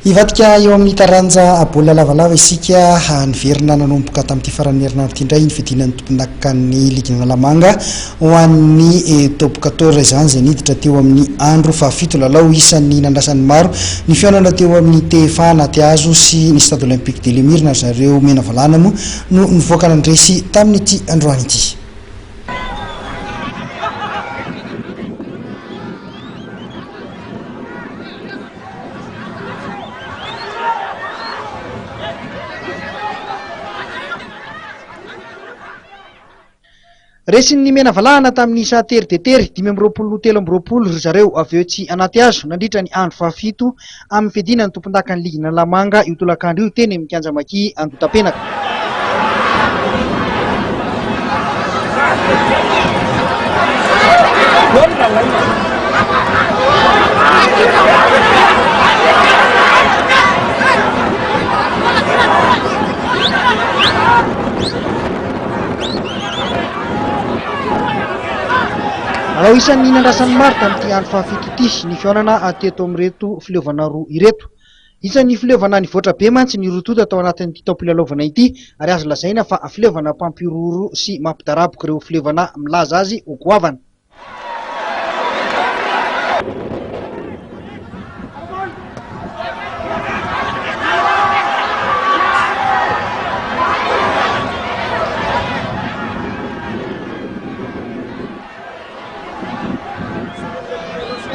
Hivadika eo amin'ny taranja baolina lavalava isika. Niverina nanomboka tamin'ity faran'ny herinandro ity indray ny fidinan'ny tompondakan'ny ligin'i Analamanga ho an'ny Top quatorze izany izay niditra teo amin'ny andro fahafito. Lalao isan'ny nandrasan'ny maro ny fihaonana teo amin'ny TFA Anatihazo sy ny Stade Olympique de l'Emir na ry zareo Menavalana moa no nivoaka nandresy tamin'ity androany ity. Resin'ny Menavalahana tamin'ny isa tery dia tery, dimy amby roapolo ho telo amby roapolo, ry zareo avy eo tsy anaty hazo, nandritra ny andro fahafito amin'ny fiadiana ny tompondakan'ny Ligy Analamanga io tolakandro io, teny amin'ny Kianja Maki Andotapenaka. Manao isan'ny nandrasan'ny maro tamin'ity andro fahafito ity ny fihaonana teto amin'ireto fileovana roa ireto. Isan'ny fileovana nivoatra be mantsy ny rotota tao anatin'ity taom-pilalaovana ity ary azo lazaina fa fileovana mpampihorohoro sy mampidaraboka ireo fileovana milaza azy ho goavana.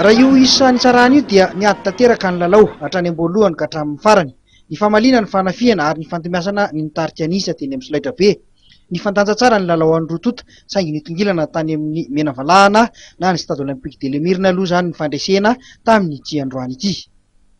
Raha io isa nitsarana io dia niady tanteraka ny lalao, hatrany am-boalohany ka hatramin'ny farany. Nifamaliana ny fanafihana ary nifantomiasana ny nitarika ny isa teny amin'ny solaitrabe. Nifandanja tsara ny lalaoan'ny roa tonta saingy nitongilana tany amin'ny mena valahana na ny Stade Olympique de l'Emirina aloha izany ny fandresena tamin'ity androany ity.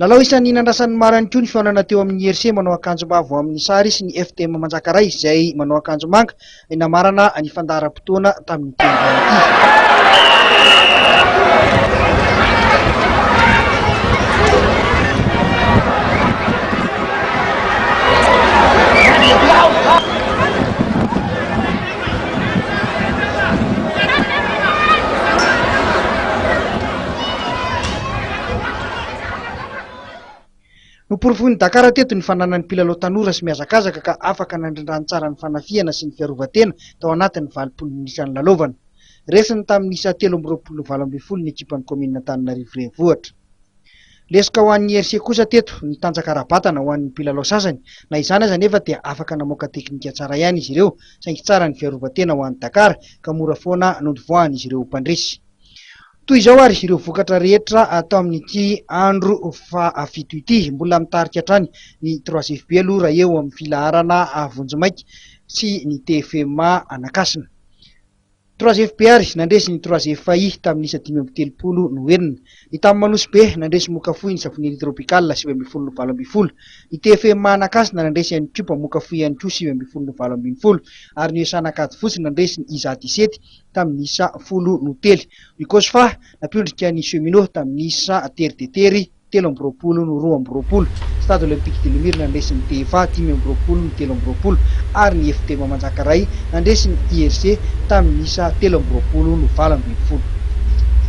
Lalao isan'ny nandrasan'ny maro ihany koa ny fihaonana teo amin'ny Herse manao akanjo mavo amin'ny sary sy ny FTM Manjakaray izay manao akanjo manga namarana ny fandaharam-potoana tamin'ity androany ity. Noporofoin'i Dakar teto ny fananan'ny mpilalao tanora sy mihazakazaka ka afaka nandrindràny tsara ny fanafihana sy ny fiarovan-tena tao anatin'ny valopolo minitra nilalaovana. Resiny tamin'ny isa telo amby roapolo valo ambin'ny folo ny ekipan'ny kaominin'Antananarivo Renivohitra. Lesoka ho an'ny IRC kosa teto ny tanjaka ara-batana ho an'ny mpilalao sasany. Na izany aza anefa dia afaka namoaka teknika tsara ihany izy ireo saingy tsara ny fiarovan-tena ho an'i Dakar ka mora foana nondivoahan'izy ireo ho mpandresy. Toy izao ary ireo vokatra rehetra atao amin'ity andro fahafito ity. Mbola mitarika hatrany ny troisief be aloha raha eo amin'ny filaharana vonjimaika sy ny TFMA Anakasina. Troisief be ary nandresy ny troisief I tamin'ny isa dimy amby telopolo no enina. Ny tamin'ny Manosy be nandresy moka fohy ny Safonely Tropical sivy ambin'ny folo no valo ambin'ny folo. Ny TFMA Anakasina nandresy ihany koa mpamoka fohy ihany koa sivy ambin'ny folo no valo ambin'ny folo ary ny ESA Ankadifotsy nandresy ny isa disety tamin'ny isa folo no tely. I Kosfa nampiondrika ny Cheminots tamin'ny isa tery dia tery, telo amby roapolo no roa amby roapolo. Stade Olympique de Lemire nandresy ny TFA, dimy amby roapolo no telo amby roapolo, ary ny FDM Manjakaray nandresy ny IRC tamin'ny isa telo amby roapolo no valo ambin'ny folo.